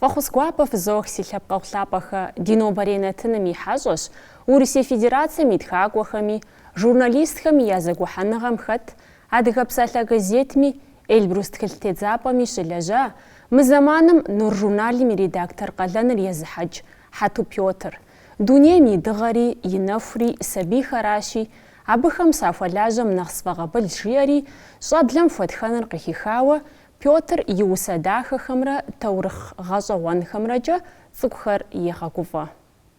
Фӏэхъус гуапэ фызох, си лъэпкъэгъу лъапӏэхэ, ди нобэрей нэтыным и хьэщӏэщ Урысей Федерацэм и тхакӏуэхэми, журналистхэми я зэгухьэныгъэм хэт Адыгэ псалъэ газетми, Эльбрус тхылъ тедзапӏэми щылэжьа, мы зэманым Нур журналым и редактор къалэныр езыхьэкӏ Хьэту Пётр. Дунейм и дыгъэри, и нэхури сабийхэращи, абыхэм сахуэлажьэм нэхъ сфӏэкъабыл, жиӏэри щӏэблэм хуэтхэныр къыхихауэ, Пётр и усэ дахэхэмрэ таурыхъ гъэщӏэгъуэнхэмрэкӏэ цӏыкӏухэр егъэгуфӏэ.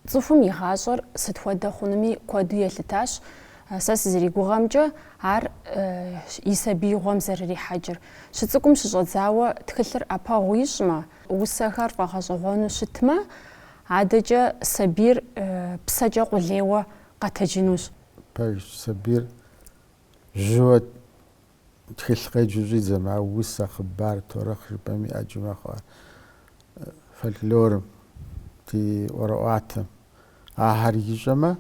Цӏыхум и гъащӏэр сыт хуэдэ хъунуми куэду елъытащ, сэ сызэригугъэмкӏэ, ар и сабиигъуэм зэрырихьэкӏыр. Щыцӏыкӏум щыщӏэдзауэ тхылъыр ӏэпэгъу ищӏмэ, усэхэр фӏэгъэщӏэгъуэну щытмэ, адэкӏэ сабийр псэкӏэ къулейуэ къэтэджынущ. Пэжщ, сабийр жьыуэ Тхылъ къеджэу щӏидзэмэ, а усэ, хъыбар, таурыхъ жыпӏэми ӏэджи мэхъу а фольклорым, ди ӏуэрыӏуатэм. Ахэр ищӏэмэ,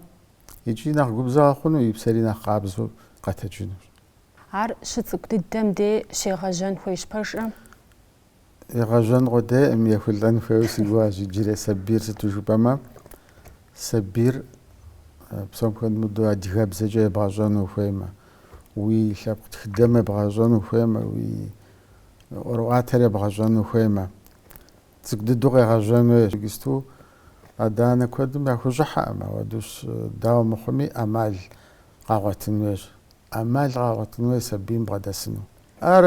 икӏи нэхъ губзыгъэ хъуну, и псэри нэхъ къабзэу къэтэджынущ. Ар щыцӏыкӏу дыдэм дей щегъэжьэн хуейщ пэжкъэ? Егъэжьэн къудейкъым, ехулӏэн хуейуэ си гугъэщ иджырей сабийр, сыту жыпӏэмэ, сабийр псом хуэмыдэу адыгэбзэкӏэ ебгъэщӏэну ухуеймэ, уи лъэпкъ тхыдэм ебгъэщӏэну ухуеймэ, уи ӏуэрыӏуатэр ебгъэщӏэну ухуеймэ, цӏыкӏу дыдэу къегъэжьэн хуейщ. Иджыпсту адэ-анэ куэдым яхущӏыхьэкъым, ауэдущ, дауэ мыхъуми, ӏэмал къагъуэтын хуейщ. ӏэмал къагъуэтын хуей сабийм бгъэдэсыну. Ар,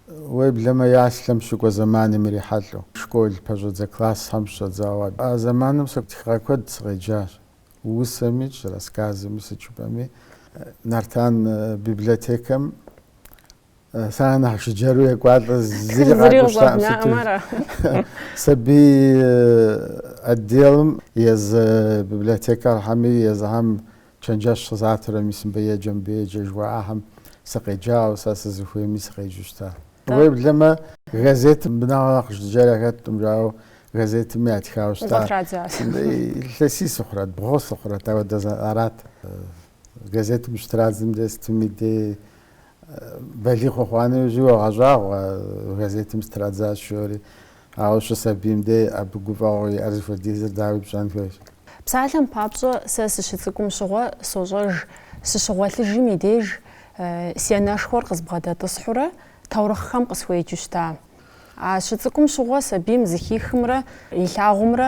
уеблэмэ, яслъэм щыкӏуэ зэманым ирихьэлӏэу, школ пэщӏэдзэ классхэм щыщӏэдзауэ. А зэманым сэ тхыгъэ куэд сыкъеджащ, усэми, щӏы рассказми, сыт жыпӏэми. Нартан библиотекэм Сэ нэхъ жыджэру екӏуалӏэ зыри къакӏущтаӏым сыту. Сабий отделым езы библиотекархэми езыхэм чэнджэщ къызатурэ мис мыбы еджэ, мыбы еджэ жыхуаӏахэм сыкъеджауэ, сэ сызыхуейми сыкъеджэу щта. Уеблэмэ газетым мыбы нэхърэ нэхъ жыджэр хэтӏым, жауэ газетым ятхауэ щта. Зэ традзащ. Илъэсий сыхъурэт, бгъу сыхъурэт, ауэдэ арат. Газетым щытрадзэм дей сытми дей Балигъ ухъуа нэужьи уогъэщӏагъуэ, газетым сытрадзащ жори. Ауэ щӏы сабийм де абы гуфӏэгъуэу иӏэр зыхуэдизыр дауи пщӏэн хуейщ. Псалъэм папщӏэ, сэ сыщыцӏыкӏум щыгъуэ сощӏэж, сыщыгъуэлъыжым и деж си анэшхуэр къызбгъэдэтӏысхьурэ таурыхъхэм къысхуеджу щыта. А щыцӏыкӏум щыгъуэ сабийм зыхихымрэ илъагъумрэ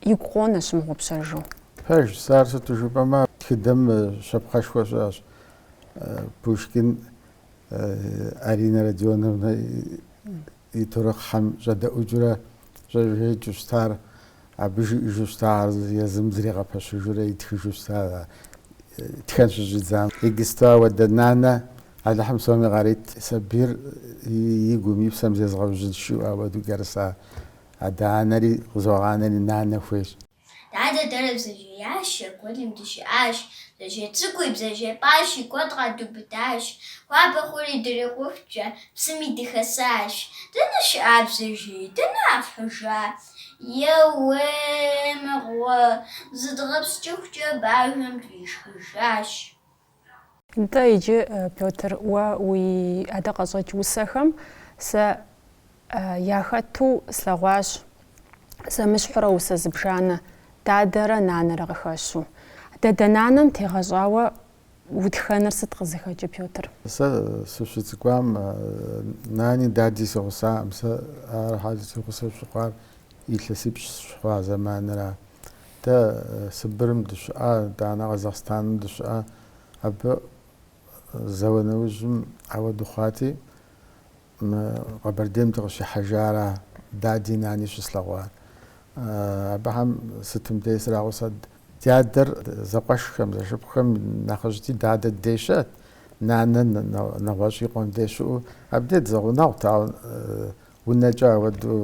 Игу къонэ щымыгъупщэжу. Пэжщ, сэ ар сыту жыпӏэмэ тхыдэм щапхъэшхуэ щыӏэщ Пушкин Аринэ Родионовнэ и таурыхъхьэм щӏэдэӏукӏыурэ щӏэжеикӏыу щытар, абы жиӏэжу щытар езым зригъэпэщыжурэ итхыжу щыта тхэн щыщӏидзам. Иджысту ауэдэ нанэ Алыхьым псоми къарит сабийр и гум и псэм зезгъэужьынщ жиӏэу ауэду кӏэрысу Адэ-анэри къызогъанэри нанэ хуейщ. Дадэ дэрэ бзэжьеящэ гуэлым дыщыӏащ. Бзэжьей цӏыкӏуи, бзэжьей пӏащи, куэд къэдубыдащ. Хуабэ хъури дырикъухукӏэ псыми дыхэсащ. Дэнэ щыӏэ бзэжьей, дэнэ фхьыжа? Еуей, мыгъуэ! Зыдгъэпскӏыхукӏэ бажэм тфӏишхыжащ. Нтӏэ, иджы, Пётр, уэ уи адэ къэщӏэкӏ усэхэм сэ яхэту слъэгъуащ зэмыщхьурэ усэ зыбжанэ, дадэрэ нанэрэ къыхэщу. Дадэ нанэм тегъэщӏауэ утхэныр сыт къызыхэкӏы, Пётр? Сэ сыщыцӏыкӏуам нани дади си гъусакъым. Сэ ахьэр си гъусэ щыхъуар илъэсипщӏ сыщыхъуа зэманра. Дэ Сыбырым дыщыӏа, итӏанэ Къэзахъстаным дыщыӏа. Абы зауэ нэужьым ауэду хъуати, мы Къэбэрдейм дыкъыщихьэжара, дади, нани щыслъэгъуар. Абыхэм сытым дей срагъусэт. Ди адэр зэкъуэшхэм, зэшыпхъухэм нэхъыжьти, дадэ дей щыӏэт, нанэ нэгъуэщӏ и къуэм дей щыӏэу. Абдей дызэгъунэгъут, ауэ Унэкӏэ ауэду,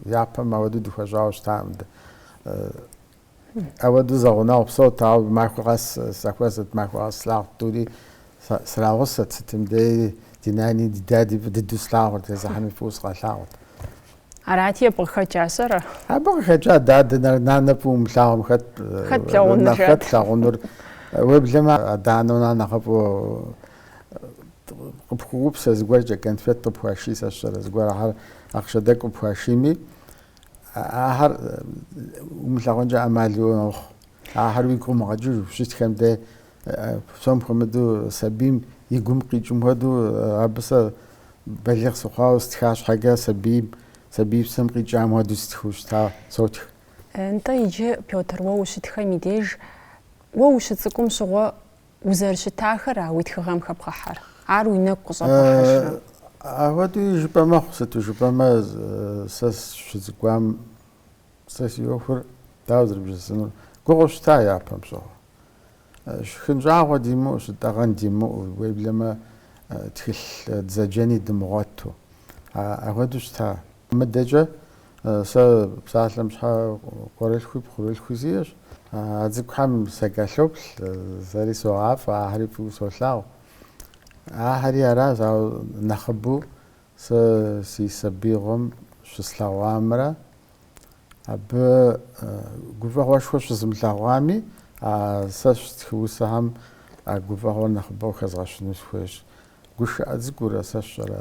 япэм ауэду дыхуэщӏауэ щытакъым дэ. Ауэду зэгъунэгъу псэут, ауэ махуэ къэс сахуэзэт, махуэ къэс слъагъут тӏури срагъусэт, сытым дей ди нани, ди дади фӏы дыдэу слъагъурт, езыхьэми фӏыуэ сыкъалъагъурт. Арати, абы къыхэкӏа сщӏэрэ? Абы къыхэкӏа дадэ, нанэ фӏыуэ умылъагъумэ, хэт, хэт плъагъунур? Уеблэмэ, адэ-анэм нэхъ нэхъыфӏу. Къыпхуэупсэ зыгуэркӏэ, конфет къыпхуаший сэ сщӏэрэ, зыгуэр ахьэр ахъшэ тӏэкӏу къыпхуашийми, ахьэр умылъагъункӏэ ӏэмал иӏэкъым. Ахьэр уигу къумыгъэкӏыжу ущытхэм дей псом хуэмыдэу сабийм и гум къикӏым хуэдэу абы сэ балигъ сыхъуауэ сытха щхьэкӏэ сабийм, сабий псэм къикӏам хуэдэу сытхыу щыта, сотх. Нтӏэ, иджы, Пётр, уэ ущытхэм и деж, уэ ущыцӏыкӏум щыгъуэ Узэрыщытахэра уи тхыгъэм хэбгъэхьэр? Ар уи нэгу къыщӏэбгъэхьэжрэ? Апхуэдэуи жыпӏэ мэхъу, сыту жыпӏэмэ, сэ сыщыцӏыкӏуам сэ си ӏуэхур дауэ зэрыбжесӏэнур? Гугъу щыта япэм щыгъуэ? Шхын щӏагъуэ димыӏэу, щытӏэгъэн димыӏэу, уеблэмэ тхылъ дызэджэни дымыгъуэту, апхуэдэу щыта? Мыдэкӏэ Сэ псалъэм щхьэ къуэрылъхуи пхъурылъхуи сиӏэщ. А цӏыкӏухэм сакӏэлъоплъ, сэри согъафӏэ, ахьэри фӏыуэ солъагъу. Ахьэри аращ, ауэ нэхъыбэу сэ си сабиигъуэм щыслъэгъуамрэ абы гуфӏэгъуэшхуэ щызымылъэгъуами, а сэ стхы усэхэм а гуфӏэгъуэр нэхъыбэу хэзгъэщыну схуейщ. Гушыӏэ цӏыкӏуурэ сэ сщӏэрэ?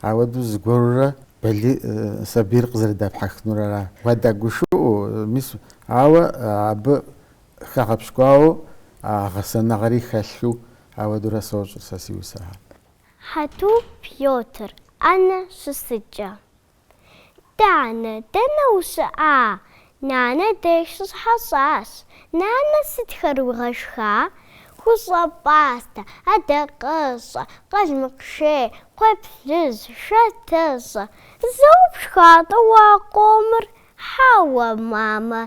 Ауэдэу зыгуэрурэ Бэлий сабийр къызэрыдэпхьэхынур ара? Уадэгушыӏэу, мис, ауэ абы хэгъэпщкӏуауэ а гъэсэныгъэри хэлъу, ауэдэурэ сощӏыр сэ си усэхэр. Хьэту Пётр Ӏэнэ щысыкӏэ. Данэ, дэнэ ущыӏа? Нанэ деж сыщыхьэщӏащ. Нанэ сытхэр уигъэшха? Хущӏэ пӏастэ, адакъэщӏэ, къалмыкъшей, кхъуейплъыжь, шатэщӏэ. Зэуэ пшха-тӏэ уэ а къомыр? Хьэуэ, мамэ,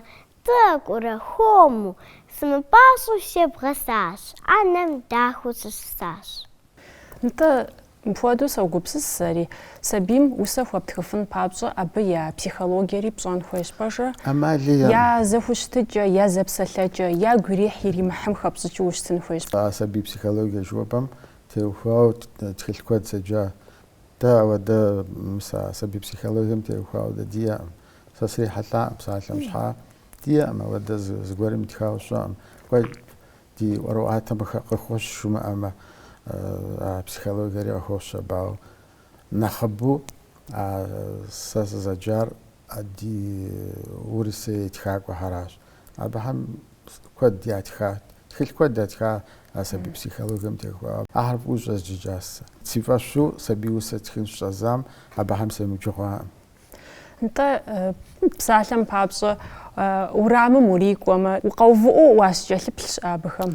тӏэкӏурэ хуэму. Сымыпӏащӏэу себгъэсащ, ӏэнэм дахэу сыщысащ. Нтӏэ, мыпхуэдэу согупсыс сэри. Сабийм усэ хуэптхыфын папщӏэ абы я психологиери пщӏэн хуейщ, пэжрэ? Амали я зэхущытыкӏэ, я зэпсэлъэкӏэ, ягу ирихь иримыхьым хэпщӏыкӏыу ущытын хуейщ. А сабий психологие жыхуэпӏэм теухуауэ тхылъ куэд седжа. Дэ ауэдэ мис а сабий психологием теухуауэ дэ диӏэкъым. Сэ срихьэлӏакъым псалъэм щхьа. Диӏэкъым ауэдэ зы, зыгуэрым итхауэ щыӏэкъым. Куэ, Ди ӏуэрыӏуатэм къыхэ, къыхощ жумыӏэмэ, а психологиери къыхощ абау. Нэхъыбэу а сэ сызэджар ди Урысей тхакӏуэхьэращ. Абыхэм куэд ятхат, тхылъ куэд ятха а сабий психологием теухуауэ. Ахэр фӏыуэ щӏэзджыкӏащ сэ. Си фӏэщу сабий усэ тхын щыщӏэздзам абыхэм семыджэу хъуакъым. Нтӏэ, псалъэм папщӏэ, урамым урикӏуэмэ, укъэувыӏэу уащыкӏэлъыплъ щыӏэщ абыхэм.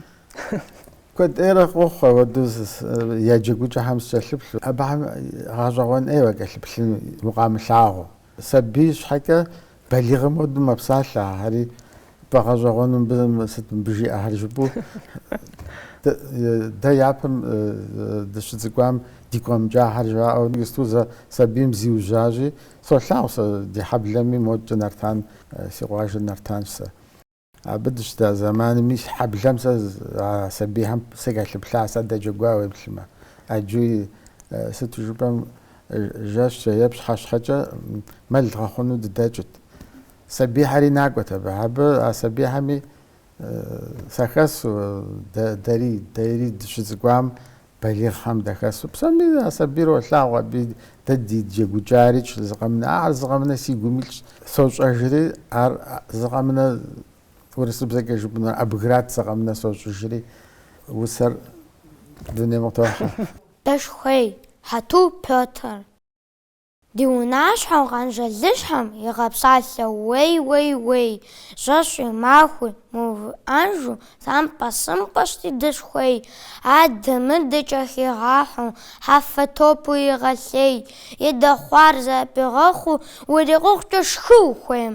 Куэд ӏейрэ къохъу ауэдэу я джэгукӏэхэм сыкӏэлъыплъу, абыхэм гъэщӏэгъуэн ӏей уакӏэлъыплъыну укъамылъагъуу. Сабий щхьэкӏэ балигъым хуэдэу мэпсалъэ ахэри, Бгъэщӏэгъуэну бзэм сыт мыбы жиӏэхэр жыпӏэу, дэ япэм дыщыцӏыкӏуам дигу къэмыкӏахэр жаӏэу иджысту зэ сабийм зиужьащи, солъагъу сэ ди хьэблэми модкӏэ Нартан, си къуажэр Нартанщ сэ. Абы дыщыта зэмаными си хьэблэм сэ а сабийхэм сакӏэлъыплъащ, садэджэгуа уеплъмэ. Аджуи сыту жыпӏэм жэщкӏэ е пщыхьэщхьэкӏэ мэл гъэхъуну дыдэкӏырт. Сабийхьэри накӏуэт абы. Абы, а сабийхьэми, сахэсу, дэ, дэри, дэри дыщыцӏыкӏуам, балигъхэм дахэсу, псоми а сабийр олъагъу, абы дэ ди джэгукӏари тщ зыкъэмынэ. Ахэр зыкъэмынэ сигум илъщ. Сощӏэжри, ар зыкъэмынэ, урысыбзэкӏэ жыпӏэнур, обыграть зыкъэмынэ сощӏыжри, усэр дунейм къытохьэ. Дэшхуей, Хьэту Пётр? Ди унащхьэу къэнжалыщхьэм игъэпсалъэ уей-уей-уей, жэщи махуи мыувыӏэжу, тхьэмпэ-сымпэщ ди дэшхуей, адэ-мыдэкӏэ хигъахьэу, хьэфэ топу егъэлъей, и дэ хъуар зыпигъэхуу, урикъухукӏэ шхы ухуейм.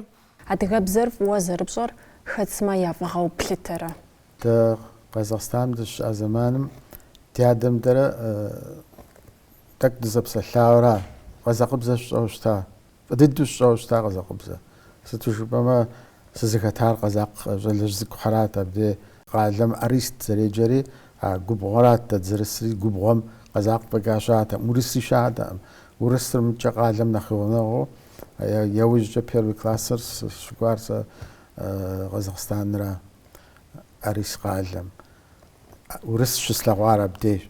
Адыгэбзэр фӏыуэ зэрыпщӏэр хэт сымэ я фӏыгъэу плъытэрэ? Дэ Къэзахъстаным дыщыӏа зэманым ди адэм-дэрэ Тӏэкӏу дызэпсэлъауэра? Къэзакъыбзэ сщӏэу щыта? Фӏы дыдэу сщӏэу щыта къэзакъыбзэ? Сыту жыпӏэмэ, сызыхэтар къэзакъ щӏалэжь цӏыкӏухэрат абдей. Къалэм Арис зэреджэри а губгъуэрат, дэ дызэрысри губгъуэм къэзакъ фӏэкӏа щыӏатэкъым, урысри щыӏатэкъым. Урысыр мыдкӏэ къалэм нэхъ и гъунэгъуу, яужькӏэ первый классыр сыщыкӏуар сэ Къэзакъстанра, Арис къалэм. Урыс щыслъэгъуар абдейщ.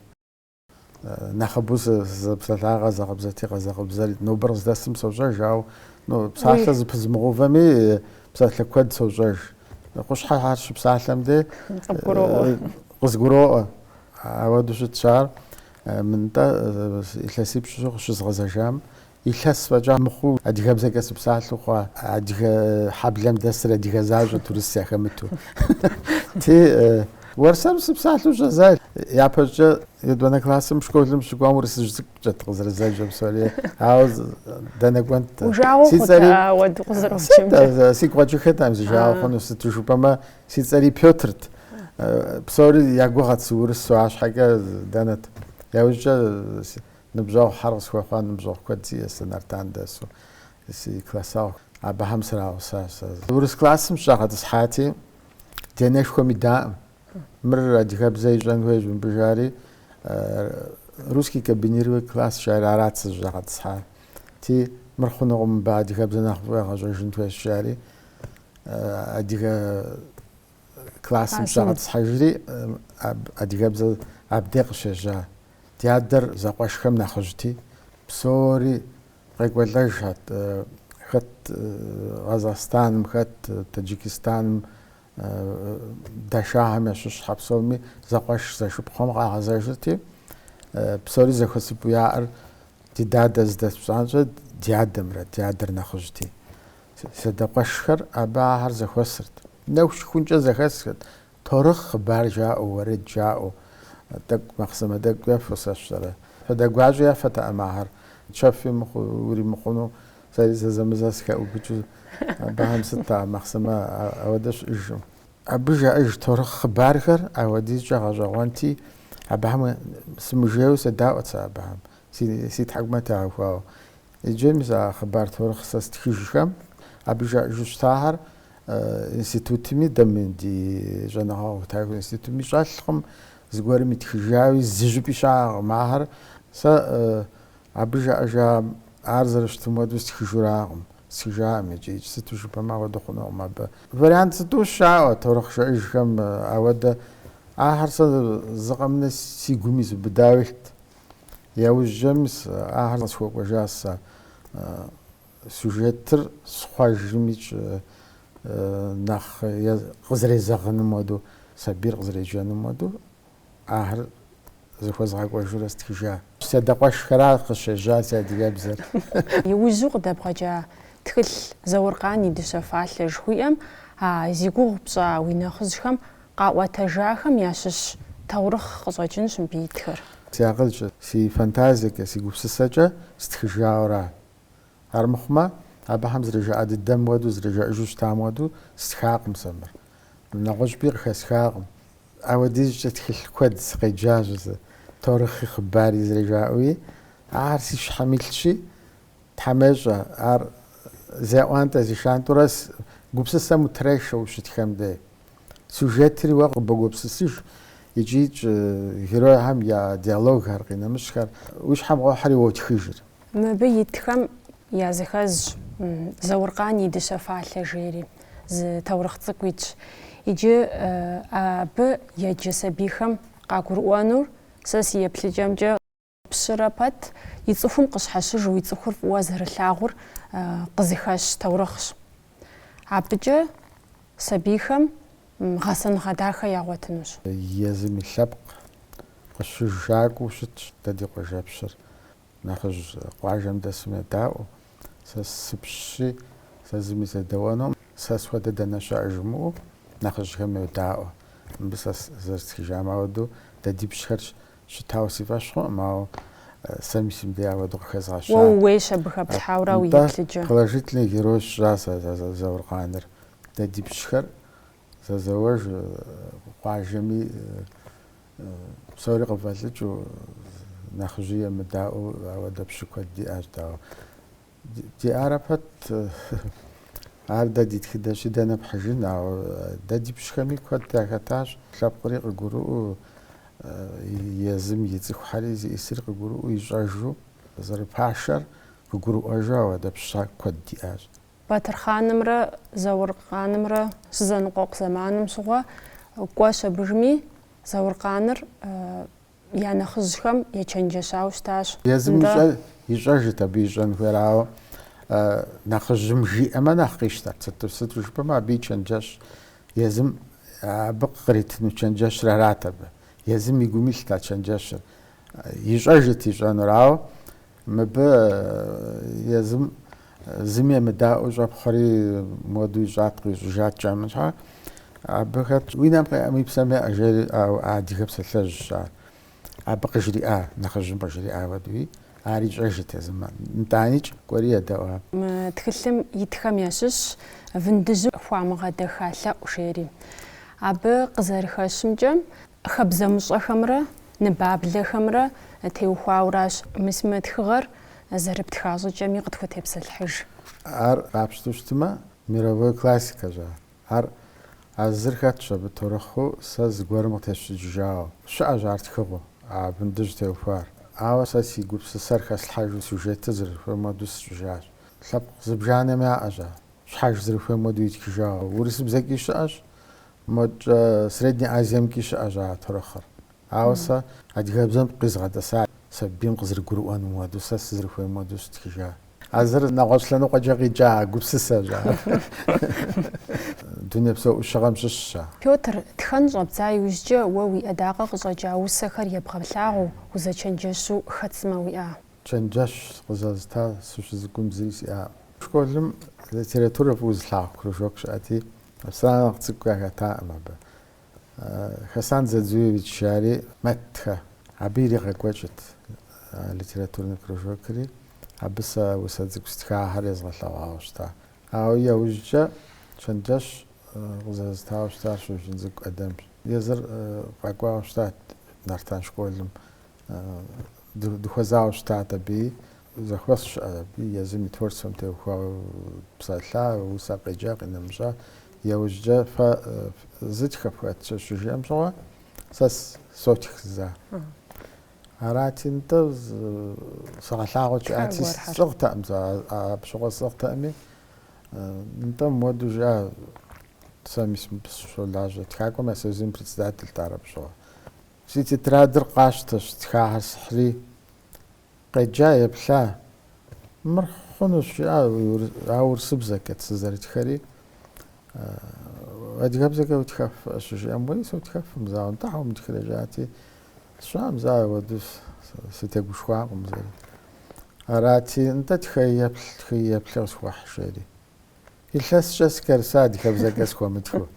нэхъыбэу сызэпсэлъар къэзакъыбзэти, къэзакъыбзэр нобэр къыздэсым сощӏэж, ауэ ну псалъэ зэпызмыгъэувэми псалъэ куэд сощӏэж. Къущхьэхэр щыпсалъэм де къызгуроӏуэ. Ауэду щытщ ар мынтӏэ илъэсипщӏу къыщызгъэзэжам Илъэс фӏэкӏа мыхъуу адыгэбзэкӏэ сыпсалъэу хъуа, адыгэ хьэблэм дэсыр адыгэ защӏэт урыс яхэмыту. Ти уэрсэру сыпсалъэу щӏэздза. Япэщӏыкӏэ етӏуанэ классым школым сыщыкӏуам урысыжь цӏыкӏукӏэт къызэрызэджэр псори, ауэ дэнэ кӏуэнт. Уи жагъуэ Си хъута цӏэри ауэду къызэроджэмкӏэ? а, сигу къэкӏыххэтэкъым си жагъуэ хъуну, сыту жыпӏэмэ си цӏэри Пётрт. Псори я гугъэт сыурысу, арщхьэкӏэ дэнэт. Яужькӏэ Ныбжьэгъухэр къысхуэхъуа ныбжьэгъу куэд сиӏэщ сэ Нартан дэсу, си классэгъу. Абыхэм срагъусащ сэ. Урыс классым сыщӏагъэтӏысхьати, ди анэшхуэм идаӏым. Мыр адыгэбзэ ищӏэн хуейщ мыбы жари, русский комбинированный класс жари арат сызыщӏагъэтӏысхьар. Ти, мыр хъунукъым, мыбы адыгэбзэ нэхъыфӏу егъэщӏэжын хуейщ жари, адыгэ классым сыщӏагъэтӏысхьэжри, адыгэбзэ абдей къыщежьа. Ди адэр зэкъуэшхэм нэхъыжьти, псори къекӏуэлӏэжхэт, хэт Къэзахъстаным, хэт Таджикистаным, дашахэм ящыщхэ псоми зэкъуэш зэшыпхъухэм къагъэзэжырти, псори зэхуэсыпу яӏэр ди дадэ зыдэс пщӏантӏэ ди адэмрэ, ди адэр нэхъыжьти. Си адэ къуэшхэр абы ахэр зэхуэсырт. Нэху щыхункӏэ зэхэсхэрт, Торыхъ хъыбар жаӏэу, уэрэд жаӏэу, тӏэкӏу махъсымэ тӏэкӏукӏэ фосэщтэрэ. Фадэ гуащӏэ яфэтэкъым ахэр, чэфи уримыхъуну, сэри зэзэмызэ сыхэӏубыкӏыу, абыхэм сыт махъсымэ ауэдэ щыӏэжкъым. Абы жаӏэж торыхъ хъыбархэр ауэдизкӏэ гъэщӏэгъуэнти, абыхэм сымыжейуэ седаӏуэт сэ абыхэм, си тхьэкӏумэ тегъэхуауэ. Иджы мис а хъыбар торыхъ сэ стхыжхэм абы жаӏэжу щытахэр институтми, дэ мы ди щӏэныгъэхутэ институтми щӏэлъкъым, зыгуэрым итхыжауи зы щӏыпӏи щыӏэкъым ахэр. Сэ абы жаӏэжа ар зэрыщытым хуэдэу стхыжуракъым, стхыжакъым икӏи, икӏи сыту жыпӏэмэ ахуэдэу хъунукъым абы. Вариант зытӏущ яӏэу торыхъ жаӏэжхэм ауэдэ, ахэр сэ зы къэмынэу си гум изубыдауэ илът. Яужь мис ахэр къысхуэкӏуэжа сэ. Сюжетыр схъуэжымикӏ нэхъ къызэрезэгъыным уэду, сабийр къызэреджэным уэду ахэр зыхуэзгъэкӏуэжурэ стхыжа. Си адэ къуэшхэра къыщежьа си адыгэбзэр. Иужьу къыдэбгъэкӏа тхылъ Зауркъан и дыщэ фалъэ жыхуиӏэм а зи гугъу пщӏа уи нэхъыжьхэм Къаӏуэтэжахэм ящыщ таурыхъ къыщӏэкӏынщ мыбы итхэр. Си акъылкӏэ, си фантазиекӏэ, си гупсысэкӏэ стхыжауэра. Армыхъумэ, абыхэм зэрыжаӏэ дыдэм хуэдэу, зэрыжаӏэжу щытам хуэдэу стхакъым сэ мыр. Нэгъуэщӏыпӏи къыхэсхакъым. Ауэдизкӏэ тхылъ куэд сыкъеджащ зы, торыхъи хъыбари зэрыжаӏэуи, ахэр си щхьэм илъщи, Тхьэм ещӏэ, ар зеӏуантӏэ зишантӏэурэ си гупсысэм утрешэ ущытхэм де. Сюжетри уэ къыбогупсысыж икӏи икӏи геройхэм я диалогхэр, къинэмыщӏхэр уи щхьэм къохьэри уотхыжыр. Мыбы итхэм языхэзщ Зауркъан и дыщэ фалъэ жери, зы таурыхъ цӏыкӏу итщ. Иджы абы еджэ сабийхэм къагурыӏуэнур сэ си еплъыкӏэмкӏэ. Пщырэ пэт и цӏыхум къыщхьэщыжу и цӏыхур фӏыуэ зэрилъагъур къызыхэщ таурыхъщ. Абыкӏэ сабийхэм гъэсэныгъэ дахэ ягъуэтынущ. Езым и лъэпкъ къыщыжакӏуэу щытщ дэ ди къуажэпщыр. Нэхъыжь къуажэм дэсым едаӏуэу, сэ сыпщщи, сэ зыми седэӏуэнукъым, сэ схуэдэ дэнэ щыӏэ жымыӏэу нэхъыжьхэм йодаӏуэ. Мыбы сэ зэрыстхыжам ауэдэу дэ ди пщхэрщ Щытауэ си фӏэщ хъуӏым, ауэ сэми сымдей ауэду къыхэзгъэщащ. Уэ ууейщ абы хэплъхьэурэ уи еплъыкӏэ. Положительный герой сщӏащ сэ Зауркъаныр. Дэ ди пщхэр зэзэуэж къуажэми псори къыфӏэлӏыкӏыу, нэхъыжьи емыдаӏуэу ауэдэ пщы куэд диӏащ, дауэ. Ди арэ пэт, ар дэ ди тхыдэщи, дэнэ пхьыжын, ауэ дэ ди пщхэми куэд яхэтащ, лъэпкъри къыгурыӏуэу, езым и цӏыхухьэри зиӏысри къыгурыӏуэу, ищӏэжу зэрыпашэр къыгурыӏуэжу ауэдэ пщы куэд диӏащ. Батырхъанымрэ Зауркъанымрэ щызэныкъуэкъу зэманым щыгъуэ кӏуэщ абыжми, Зауркъаныр Я нэхъыжьхэм ечэнджэщауэ щытащ. Езым ищӏэжырт абы ищӏэн хуейр, ауэ нэхъыжьым жиӏэмэ нэхъ къищтэрт. Сыту сыту жыпӏэмэ, абы и чэнджэщ езым абы къритыну чэнджэщыр арат абы. Езым и гум илът а чэнджэщыр. Ищӏэжырт ищӏэнур, ауэ. Мыбы езым зыми емыдаӏуэу щӏэпхъуэри моду ищӏаткъым, ищӏыжат жамыщхьэ. Абы хэтщ, уи нэм къеӏэм уи псэм еӏэ жери, ауэ адыгэ псалъэжьщ ар. Абы къыжриӏа, нэхъыжьым къыжриӏа хуэдэуи, ар ищӏэжырт езым. Итӏаникӏ кӏуэри едэӏуа. Мы тхылъым итхэм ящыщщ Вындыжьым хуамыгъэдэха лъэӏу жери. Абы къызэрыхэщымкӏэ, Хабзэмыщӏэхэмрэ ныбаблэхэмрэ теухуауращ. Мис мы тхыгъэр зэрыптха щӏыкӏэми къытхутепсэлъхьыж. Ар къапщту щытмэ, мировой классикэщ ар. Ар а зыр хэтщ абы торыхъыу сэ зыгуэрым къытесщӏыкӏыжауэ. Щыӏэщ ар тхыгъэу а вындыжь теухуар. Ауэ сэ си гупсысэр хэслъхьэжу сюжетыр зэрыхуейм хуэдэу сщӏыжащ. Лъэпкъ зыбжанэм яӏэщ ар. Щхьэж зэрыхуейм хуэдэу итхыжауэ. Урысыбзэкӏи щыӏэщ, Модкӏэ Средней Азиемкӏи щыӏэщ а торыхъыр. Ауэ сэ адыгэбзэм къизгъэтӏэса сабийм къызэрыгурыӏуэным хуэдэу, сэ сызэрыхуейм хуэдэу щыстхыжа. А зыр нэгъуэщӏ лъэныкъуэкӏэ къикӏа гупсысэщ ар. Дунейпсо ӏущыгъэм щыщщ ар. Пётр, тхэн щӏэбдза иужькӏэ уэ уи ӏэдакъэ къыщӏэкӏа усэхэр ебгъэлъагъуу, узэчэнджэщу хэт сымэ уиӏа? Чэнджэщ къызэзыта сыщыцӏыкӏум зыри сиӏакъым. Школым литературэ фӏыуэ зылъагъу кружок щыӏэти, Сэ нэхъ цӏыкӏу яхэтакъым абы. Хасан Дзадзуевич жари мэтхэ. Абы иригъэкӏуэкӏырт литературный кружокри, абы сэ усэ цӏыкӏу стхахэр езгъэлъэгъуауэ щыта. Ауэ яужькӏэ чэнджэщ къызэзытауэ щытар Щоджэнцӏыкӏу ӏэдэмщ. Езыр къэкӏуауэ щытат Нартан школым дыхуэзауэ щытат абы, зэхуэс щыӏа абы, езым и творчествэм теухуауэ псэлъа, усэ къеджа, къинэмыщӏа. Иужькӏэ фэ зы тхэ фхэт щыжиӏэм щыгъуэ, сэ сотх за. Арати, нтӏэ сыгъэлъагъуэт жиӏати, сцӏыгътэкъым сэ, апщыгъуэ сцӏыгътэкъыми, нтӏэ муэду жиӏа, сэ мис сыщолажьэ, тхакӏуэм я союзым председательт ар апщыгъуэ. Си тетрадыр къащтэщ, тхахэр схьри, къеджа, еплъа. Мыр хъунущ, жиӏа, а урысыбзэкӏэт сызэрытхэри. Адыгэбзэкӏэ утхэф щыжиӏэм, уэи сотхэфым, зауэ, нтӏэ, щхьэ умытхрэ жиӏати, сщӏэкъым, зауэ, уэду сытегушхуакъым зэри. Арати, нтӏэ, тхыи еплъ, къысхуэхь, жери. Илъэскӏэ сыкӏэрыса адыгэбзэкӏэ схуэмытху.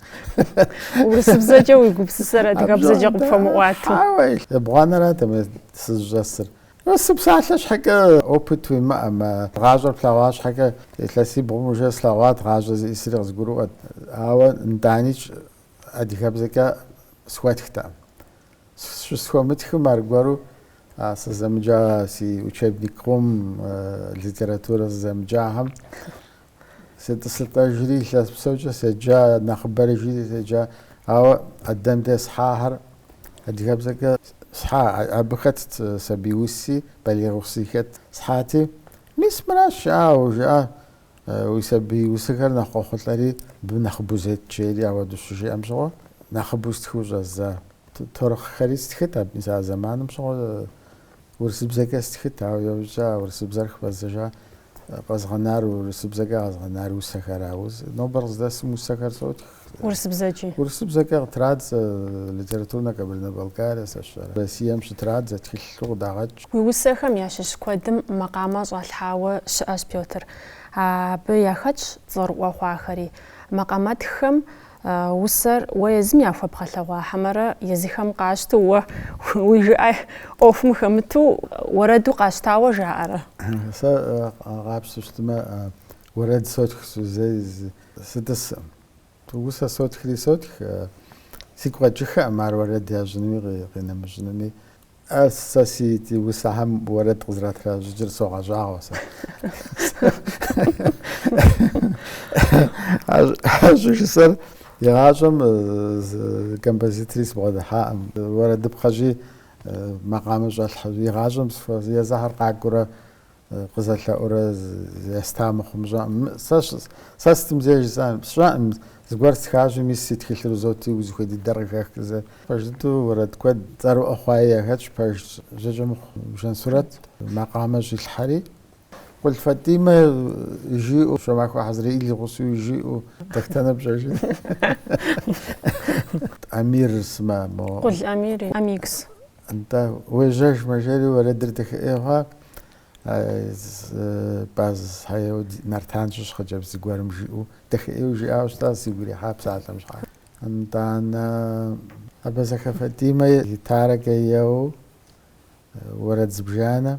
Урысыбзэкӏэ уи гупсысэр адыгэбзэкӏэ къыпхуэмыӏуату. Хьэуэ, ебгъуанэрат мы сызыщӏэсыр. Сы псалъэ щхьэкӏэ опыт уимыӏэмэ, гъащӏэр плъэгъуа щхьэкӏэ, илъэсибгъум уже слъэгъуат гъащӏэ зиӏисри къызгурыӏуэт, ауэ нтӏаничӏ адыгэбзэкӏэ схуэтхтэкъым. Щысхуэмытхым аргуэру сызэмыджа си учебник къом литературэ сызэмыджахэм сетӏысылӏэжри, илъэс псэукӏэ седжа, нэхъыбэрэ жиӏи седжа. Ауэ Ӏэдэм де схьахэр адыгэбзэкӏэ схьа, абы хэтт сабий уси, балигъ уси хэт схьати, мис мыращ жаӏэу жиӏа Уи сабий усэхэр нэхъ къохъулӏэри, абы нэхъыбэу зет жери ауэдэу щыжиӏэм щыгъуэ, нэхъыбэу стхыу щӏэза таурыхъхэри стхыт абы мис а зэманым щыгъуэ урысыбзэкӏэ стхыт, ауэ иужькӏэ а урысыбзэр хыфӏэздзэжа къэзгъэнар урысыбзэкӏэ къэзгъэнар усэхэращ. Нобэр къыздэсым усэхэр сотх. Урысыбзэкӏи. Урысыбзэкӏэ къытрадзэ Литературнэ Кабардино-Балкария сэ сщӏэрэ. Россием щытрадзэ, тхылъу къыдагъэкӏ. Уи усэхэм ящыщ куэдым макъамэ щӏалъхьауэ щыӏэщ, Пётр. Абы яхэтщ цӏэрыӏуэ хъуахэри. Макъамэтххэм усэр уэ езым яхуэбгъэлъэгъуа хьэмэрэ езыхэм къащту уэ уи жыӏэ ӏуэхум хэмыту уэрэду къащтауэ жаӏэрэ? Сэ къапщту щытмэ, Уэрэд сотх зэи сытӏыскъым. Усэ сотхри сотх, сигу къэкӏыххэкъым ар уэрэд ящӏынуми къинэмыщӏынуми. Ар сэ си усэхэм уэрэд къызэрытращӏыкӏыр согъэщӏагъуэ сэ. Ар щӏыжысӏэр игъащӏэм зы композитори сыбгъэдыхьакъым. Уэрэдыпхъэщи макъамэ щӏэлъхьэ жи, игъащӏэм езыхьэр къакӏуэурэ Къызэлъэӏурэ еста мыхъум щыӏэӏым. Сэ сытым зей жысӏэн сщӏэӏым. Зыгуэр стхащӏи, мис си тхылъыр узоти, узыхуей дыдэр къыхэх зы. Пэж дыдэу уэрэд куэд цӏэрыӏуэ хъуаи яхэтщ, пэж Жьакӏэмыхъу Жансурэт макъамэ щӏилъхьэри. Къулъ Фатимэ жиӏэу, Щомахуэ Хьэзрэил и гъусэу жиӏэу. Дэтхэнэр пщӏэжын. Амир сымэ мо. Къулъ Амир и Амикс. Нтӏэ, уежьэжмэ, жери уэрэдыр дахэӏей хъуа? Базхэ еу Нартан щыщ хъыджэбз зыгуэрым жиӏэу, дахэӏеу жиӏауэ щытащ, сигу ирихьа псалъэм щхьа. Нтӏанэ, Абазэхэ Фатимэ гитарэкӏэ еуэу, уэрэд зыбжанэ.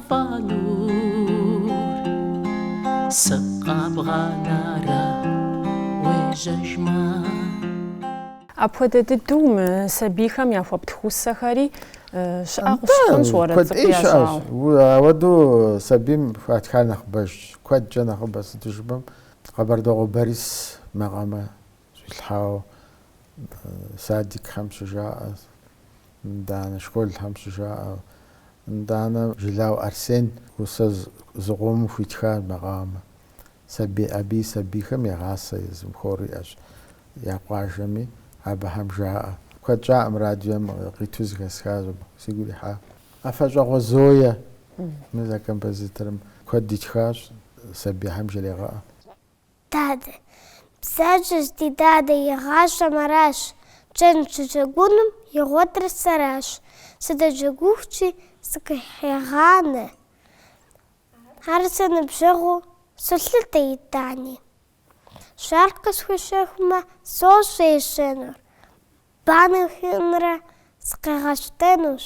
сызыгъэфӏэнур. Сыкъэбгъанэрэ уежьэжмэ. Апхуэдэ дыдэу мы сабийхэм яхуэптх усэхэри щыӏэ къыщӏэкӏынщ уэрэд цӏыкӏу ящӏауэ. Куэдӏей щыӏэщ. Ауэду сабийм хуатхар нэхъыбэжщ, куэдкӏэ нэхъыбэ, сыту жыпӏэм, Къэбэрдокъуэ Борис макъамэ Щӏилъхьауэ садикхэм щыжаӏэ, нтӏанэ школхэм щыжаӏэ. Нтӏанэ Жылау Арсен усэ зыкъомым хуитхар макъамэ. Сабий абы и сабийхэм егъасэ езым хор иӏэщ я къуажэми, абыхэм жаӏэ. Куэд щӏакъым радиом къиту зыхэсхащ абы, сигу ирихьа. Афэщӏагъуэ Зоя, мы зэ композиторым куэд итхащ, сабийхэм жрегъэӏэ. Дадэ. Бзаджэщ ди дадэ и гъащӏэм аращ, кӏэн щыджэгунум игъуэтыр сэращ, сыдэджэгухукӏи сыкъыхегъанэ, ар сэ ныбжьэгъуу солъытэ итӏани. Шар къысхуищэхумэ, сощӏэ ищӏэнур, банэ хиӏунрэ сыкъигъэщтэнущ.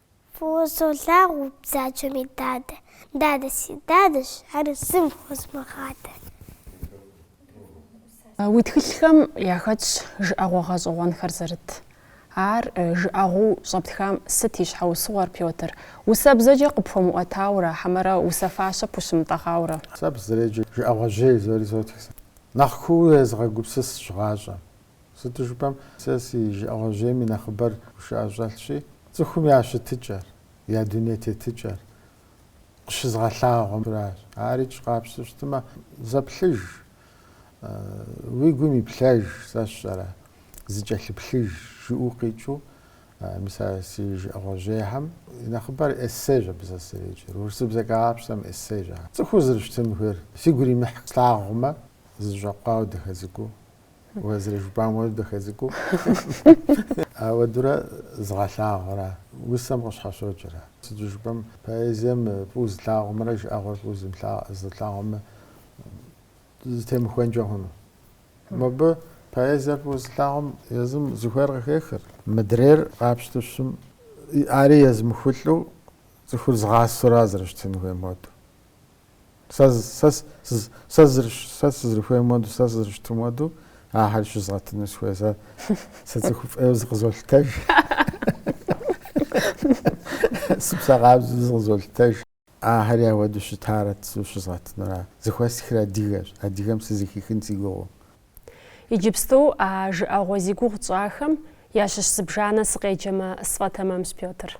Фӏыуэ солъагъу бзаджэми дадэ. Дадэ си дадэщ, ар зым хуэзмыгъадэ. Уи тхылъхэм яхэтщ жыӏэгъуэ гъэщӏэгъуэнхэр зэрыт. Ар жыӏэгъуу щӏэптхам сыт и щхьэусыгъуэр, Пётр? Усэ бзэкӏэ къыпхуэмыӏуэтауэрэ, хьэмэрэ усэ фащэ пхущымытӏэгъауэрэ? Сэ абы сызэреджэр жыӏэгъуэжьей жызоӏэри сотх сэ. Нэхъ куууэ уезыгъэгупсысщ гъащӏэм. Сыту жыпӏэм, сэ си жыӏэгъуэжьейм и нэхъыбэр гушыӏэ щӏэлъщи, цӏыхум я щытыкӏэр, я дуней тетыкӏэр къыщызгъэлъагъуэмращ. Ар икӏи къапщтэу щытмэ, зэплъыж, уи гум иплъэж, сэ сщӏэрэ, зыкӏэлъыплъыж, жыӏэу къикӏыу, мис а си жыӏэгъуэжьейхэм и нэхъыбэр эссейщ абы сэ сызэреджэр. Урысыбзэ къапщтэм эссейщ ар. Цӏыхуу зэрыщытын хуейр сигу иримыхь слъагъумэ, зэщӏэкъуауэ дахэ цӏыкӏуу, Уэ зэрыжыпӏамуэ дахэ цӏыкӏуу. Ауэдурэ згъэлъагъуэра, усэм къыщхьэщокӏра. Сыту жыпӏэм, поэзием фӏыуэ зылъагъумрэ жыӏэгъуэр фӏыуэ зылъагъумрэ зытемыхуэнкӏэ хъуну. Мыбы поэзиер фӏыуэ зылъагъум езым зыхуейр къыхехыр. Мыдрейр къапщтэу щытым, ари езмыхулӏэу цӏыхур згъасэурэ зэрыщытын хуейм хуэдэу. Сэ сызэрыхуейм хуэдэу, сэ сызэрыщытым хуэдэу ахэр щызгъэтыну сыхуей. Сэ цӏыхуфӏ ӏейуэ зыкъызолъытэж. Сыпсэ къабзэу зыкъызолъытэж. Ахэри ауэдэу щытарэт жысӏэу щызгъэтынура. Зыхуэстхыр адыгэщ. Адыгэм сызыхихын си гугъэу. Иджыпсту а жыӏэгъуэ зи гугъу тщӏахэм ящыщ зыбжанэ сыкъеджэмэ сфӏэтэмэмщ, Пётр.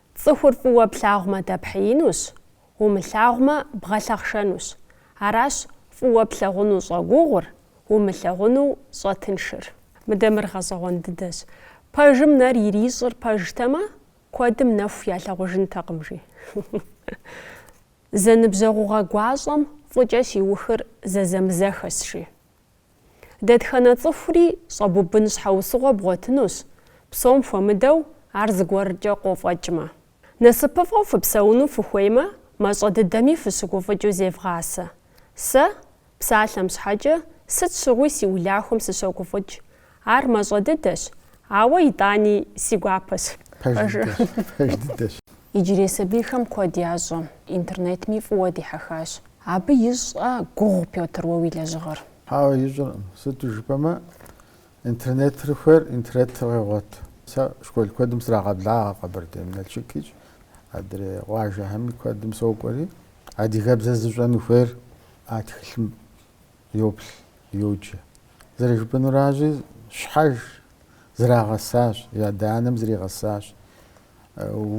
Цӏыхур фӏыуэ плъагъумэ дэпхьеинущ, умылъагъумэ бгъэлъэхъшэнущ. Аращ фӏыуэ плъагъуну щӏэгугъур, умылъагъуну щӏэтыншыр. Мыдэ мыр гъэщӏэгъуэн дыдэщ. Пэжым нэр ирищӏыр пэжтэмэ, куэдым нэху ялъагъужынтэкъым, жи. Зэныбжьэгъугъэ гуащӏэм фӏыкӏэ щиухыр зэзэмызэхэщ, жи. Дэтхэнэ цӏыхури щӏэбубын щхьэусыгъуэ бгъуэтынущ, псом хуэмыдэу ар зыгуэркӏэ къофӏэкӏмэ. Насыпыфӏэу фыпсэуну фыхуеймэ, мащӏэ дыдэми фыщыгуфӏыкӏыу зевгъасэ. Сэ, псалъэм щхьэкӏэ, сыт щыгъуи си улахуэм сыщогуфӏыкӏ, Ар мащӏэ дыдэщ, ауэ итӏани си гуапэщ, жи. Пэж дыдэщ. Иджырей сабийхэм куэд ящӏэ, интернетми фӏыуэ дихьэхащ. Абы ищӏрэ гугъу Пётр уэ уи лэжьыгъэр? Хьэуэ, ищӏыркъым. Сыту жыпӏэмэ, интернетыр хуейр интернетыр къегъуэт. Сэ школ куэдым срагъэблагъэ Къэбэрдейм, Налшыкикӏ, адрей къуажэхэми куэдым сокӏуэри. Адыгэбзэ зыщӏэну хуейр а тхылъым йоплъ, йоджэ. Зэрыжыпӏэнуращи, щхьэж зэрагъэсащ, адэ-анэм зэригъэсащ,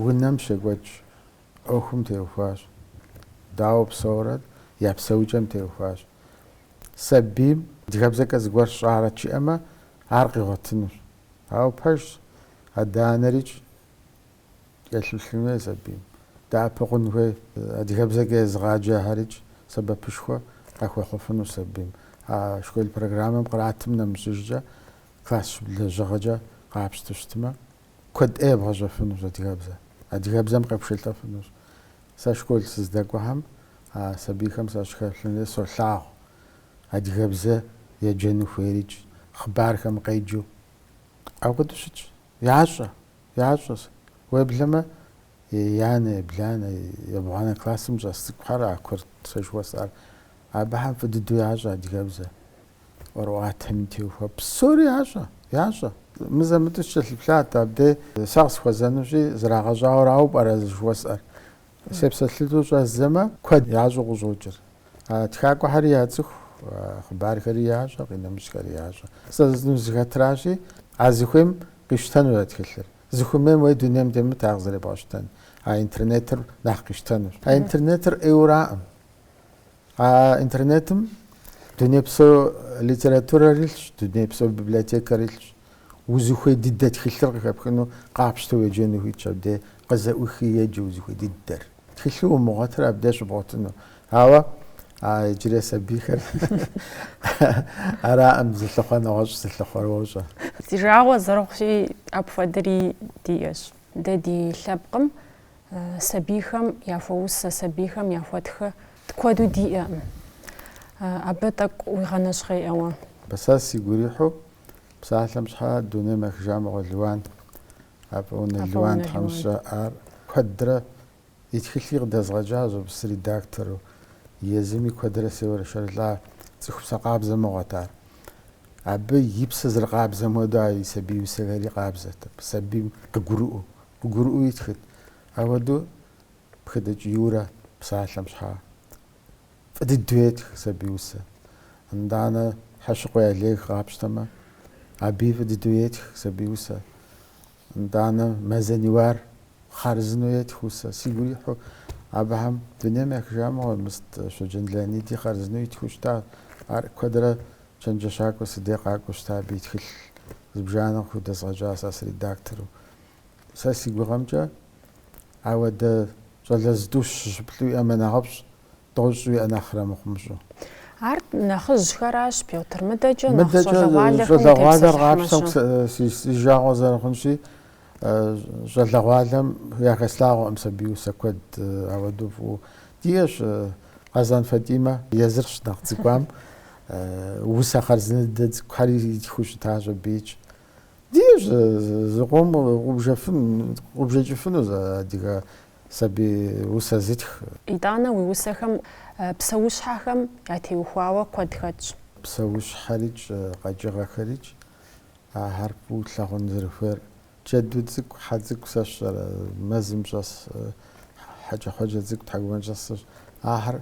унэм щекӏуэкӏ ӏуэхум теухуащ. Дауэ псэурэ я псэукӏэм теухуащ. Сабийм адыгэбзэкӏэ зыгуэр сщӏарэт жиӏэмэ, ар къигъуэтынущ. Ауэ пэжщ, адэ-анэрикӏ елъыплъын хуей сабийм. Дэӏэпыкъун хуей. Адыгэбзэкӏэ езыгъаджэхэрикӏ сэбэпышхуэ къыхуэхъуфыну сабийм. А школ программэм къратым нэмыщӏыжкӏэ класс щӏыб лэжьыгъэкӏэ къапщту щытмэ, куэд ӏей ебгъэщӏэфынущ адыгэбзэр. Адыгэбзэм къепшэлӏэфынущ. Сэ школ сыздэкӏуэхэм а сабийхэм сащыхэплъэм дей солъагъу. Адыгэбзэ еджэну хуейрикӏ, хъыбархэм къеджэу. Апхуэдэу щытщ. Ящӏэ ящӏэ. Уеблэмэ, еянэ, ебланэ, ебгъуанэ классым щӏэс цӏыкӏухэр а курыт сэ жыхуэсӏэр. Абыхэм фӏы дыдэу ящӏэ адыгэбзэ, ӏуэрыӏуатэми теухуа. Псори ящӏэ, ящӏэ. Мызэ-мытӏэу сыкӏэлъыплъат абдей, сэ къысхуэзэнущи, зрагъэщӏауэ арауэ пӏэрэ сэ жыхуэсӏэр? Сепсэлъэну щӏэздзэмэ, куэд ящӏэу къыщӏокӏыр. Тхакӏуэхэри яцӏыху, хъыбархэри ящӏэ, къинэмыщӏхэри ящӏэ. Сэ жысӏэну сызыхэтращи, а зыхуейм къищтэнущ а тхылъыр. Зыхуэмейм уей дунейм темыт ар къызэребгъэщтэн. А интернетыр нэхъ къищтэнущ. А интернетыр ӏейуэракъым. А интернетым дунейпсо литературэр илъщ, дунейпсо библиотекэр илъщ. Узыхуей дыдэ тхылъыр къыхэпхыну къапщтэу уеджэну ухуитщ абдей къызэӏухи еджэ узыхуей дыдэр. Тхылъу умыгъуэтыр абдей щыбгъуэтыну. Ауэ а иджырей сабийхэр араӏым зылъыхъуэр, нэгъуэщӏщ зылъыхъуэр, уощӏэ. Си жагъуэ зэрыхъущи, апхуэдэри диӏэщ. Дэ ди лъэпкъым сабийхэм яхуэусэ, сабийхэм яхуэтхэ куэду диӏэкъым. Абы тӏэкӏу уегъэнэщхъей, ауэ сэ сигу ирихьу псалъэм щхьэ дунейм ехыжа мыгъуэ Лиуан Афӏэунэ Лиуан тхьэмыщкӏэ ар куэдрэ и тхылъи къыдэзгъэкӏащ абы сыредактору. Езыми куэдрэ сеуэршэрылӏа, цӏыху псэ къабзэ мыгъуэт ар. Абы и псэ зэрыкъабзэм хуэдэу а и сабий усэхэри къабзэт. Абы сабийм къыгурыӏуэу, къыгурыӏуэу итхыт. Ауэдэу Пхытӏыкӏ Юрэ псалъэм щхьа Фӏы дыдэу етх сабий усэ. Итӏанэ Хьэщыкъуей Олег къапщтэмэ, абыи фӏы дыдэу етх сабий усэ. Итӏанэ Мэз Аниуар хъарзынэу етх усэ. Сигу ирихьу абыхэм дунейм ехыжа мыгъуэ, мис Щоджэн Леониди хъарзынэу итхыу щыта. Ар куэдрэ чэнджэщакӏуэ си дей къакӏуэу щыта абы и тхылъ зыбжанэ къыхудэзгъэкӏащ сэ сыредактору. Сэ си гугъэмкӏэ ауэдэ щӏалэ зытӏущ, щы-плӏы уиӏэмэ нэхъыфӏщ, тӏощӏ уиӏэ нэхърэ мыхъумыщӏэу. Ар нэхъыжьхэращ, Пётр, мыдэкӏэ нэхъ щӏалэгъуалэхэм Щӏалэгъуалэр къапщтэмэ утепсэлъыхьмэ-щэ? си жагъуэ зэрыхъунщи, щӏалэгъуалэм яхэслъагъуэкъым сабий усэ куэд ауэдэу фӏыуэ. Диӏэщ Къэзан Фатӏимэ, езыр щынэхъ цӏыкӏуам, усэ хъарзынэ дыдэ цӏыкӏухэр итхыу щытащ абыикӏ. Диӏэщ зыкъом къубжэфын, къубжэкӏыфынур адыгэ Сабий усэ зытх. Итӏанэ уи усэхэм псэущхьэхэм ятеухуауэ куэд хэтщ. Псэущхьэрикӏ, къэкӏыгъэхэрикӏ ахэр фӏыуэ лъагъун зэрыхуейр. Джэду цӏыкӏу, хьэ цӏыкӏу сэ сщӏэрэ мэзым щӏэс, хьэкӏэкхъуэкӏэ цӏыкӏу, тхьэкӏумэкӏыхь щӏэсщ. Ахэр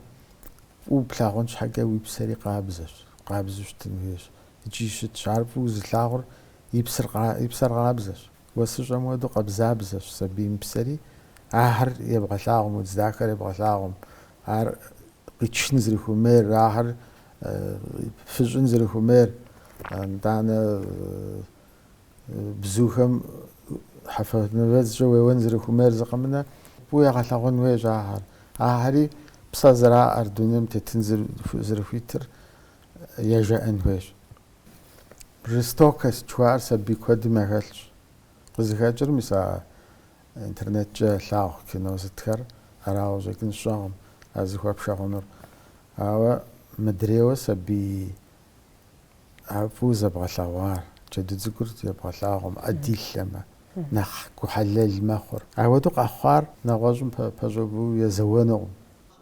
фӏыуэ плъагъун щхьэкӏэ уи псэри къабзэщ, къабзэу щытын хуейщ икӏи щытщ. Ар фӏыуэ зылъагъур и псэр къабзэщ. Уэсыщӏэм уэду къабзабзэщ сабийм псэри, ахэр ебгъэлъагъум, удз дахэр ебгъэлъагъум, ар къичын зэрыхуэмейр, ахэр фыщӏын зэрыхуэмейр, нтӏанэ бзухэм хьэфэ нывэдзкӏэ уеуэн зэрыхуэмейр зы къэмынэ, фӏыуэ егъэлъэгъуэн хуейщ ахэр. Ахэри псэ зэраӏэр, дунейм тетын зэрыхуитыр ежеӏэн хуейщ. Жестокость жыхуаӏэр сабий куэдым яхэлъщ. Къызыхэкӏыр, мис, а интернеткӏэ ялъагъу кино сытхэр арауэ щӏэкӏын сщӏэкъым ар зыхуэпшэ хъунур. Ауэ мыдрейуэ сабий ар фӏыуэ зэбгъэлъэгъуар, джэду цӏыкӏур ебгъэлъагъуэмэ, ӏэ дилъэмэ, нэхъ гухьэлэл мэхъур. Ауэдэу къэхъуар нэгъуэщӏым пэщӏэуву езэуэнукъым.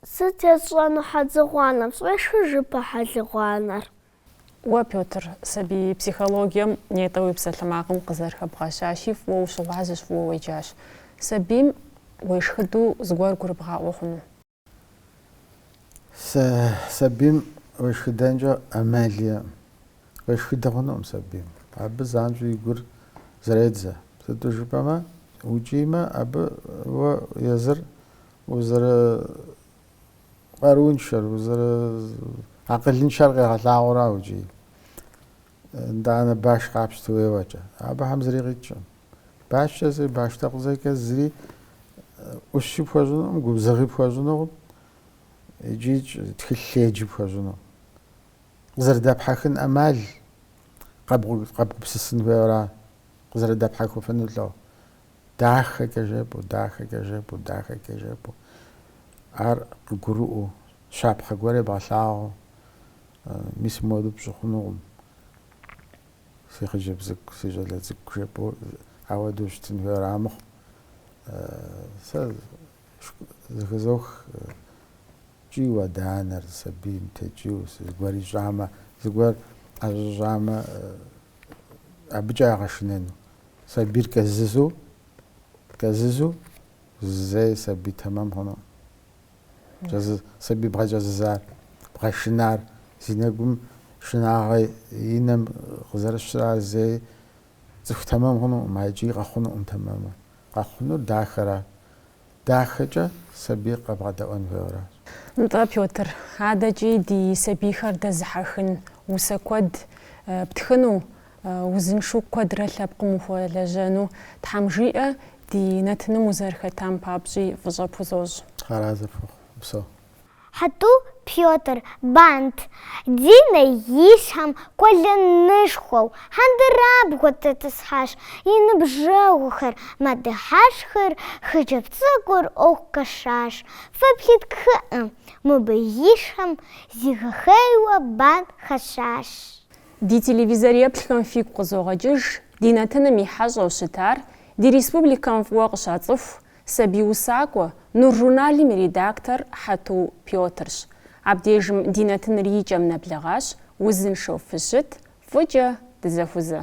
Сыт есщӏэну хьэдзыгъуанэм? Сфӏешхыжыпэ хьэлыгъуанэр. Уэ, Пётр, сабий психологием нетӏэ уи псалъэмакъым къызэрыхэбгъэщащи, фӏыуэ ущыгъуазэщ, фӏыуэ уеджащ. Сабийм уешхыду зыгуэр гурыбгъаӏуэ хъуну? Сэ сабийм уешхыдэнкӏэ ӏэмал иӏэкъым. Уешхыдэ хъунукъым сабийм. Абы занщӏэу и гур зэредзэ. Сыту жыпӏэмэ, укӏиймэ, абы уэ езыр Узэрыкъарууншэр, узэрыакъылыншэр къегъэлъагъуэу ара укӏийм. Нтӏанэ баш къапщту уеуэкӏэ, абыхэм зыри къикӏкъым. Башкӏэ зыри, баш текъузэкӏэ зыри ӏущи пхуэщӏынукъым, губзыгъи пхуэщӏынукъым икӏи тхылъеджи пхуэщӏынукъым. Къызэрыдэпхьэхын ӏэмал къэбгупсысын хуейуэ ара къызэрыдэпхьэхыфыну лӏэу? Дахэкӏэ жепӏэу, дахэкӏэ жепӏэу, дахэкӏэ жепӏэу. Ар къыгурыӏуэу, щапхъэ гуэр ебгъэлъагъуэу, Мис моду пщӏы хъунукъым, си хъыджэбз цӏыкӏу, си щӏалэ цӏыкӏу, жепӏэу, ауэдэу щытын хуейуэ ара мыхъу. Сэ зыхызох кӏийуэ адэ-анэр, сабийм текӏийуэ, зыгуэр ищӏамэ, зыгуэр ӏэщӏэщӏамэ, абыкӏэ ягъэшынэну. Сабийр кӏэзызу, кӏэзызу, зэи сабий тэмэм хъунукъым. Сабий бгъэкӏэзызар, бгъэшынар, зи нэгум шынагъэ и нэм къызэрыщыр ар зэи цӏыху тэмэм хъунукъым, а икӏи къэхъунукъым тэмэму. Къэхъунур дахэра? Дахэкӏэ сабийр къэбгъэдэӏуэн хуейуэращ. Нтӏэ, Пётр, адэкӏи ди сабийхэр дэзыхьэхын усэ куэд птхыну, узыншу куэдрэ лъэпкъым ухуэлэжьэну Тхьэм жиӏэ, ди нэтыным узэрыхэтам папщӏи фӏыщӏэ пхузощӏ. Тхьэразэ пхухъу, упсэу. Хьэту Пётр, Бант, Динэ и щхьэм къуэлэнышхуэу хьэндырабгъуэ тетӏысхьащ, и ныбжьэгъухэр мэдыхьэшхыр, хъыджэбз цӏыкӏур ӏуэху къашащ. Феплъыт, кхъыӏэ, мыбы и щхьэм зигъэхъейуэ бант хэщӏащ. Ди телевизор еплъхэм фигу къызогъэкӏыж ди нэтыным и хьэщӏэу щытар, ди республикэм фӏыуэ къыщацӏыху, Сабий усакӏуэ, Нур журналым и редактор Хьэту Пётрщ. Абдежым ди нэтыныр и кӏэм нэблэгъащ, узыншэу фыщыт, фӏыкӏэ дызэхузэ.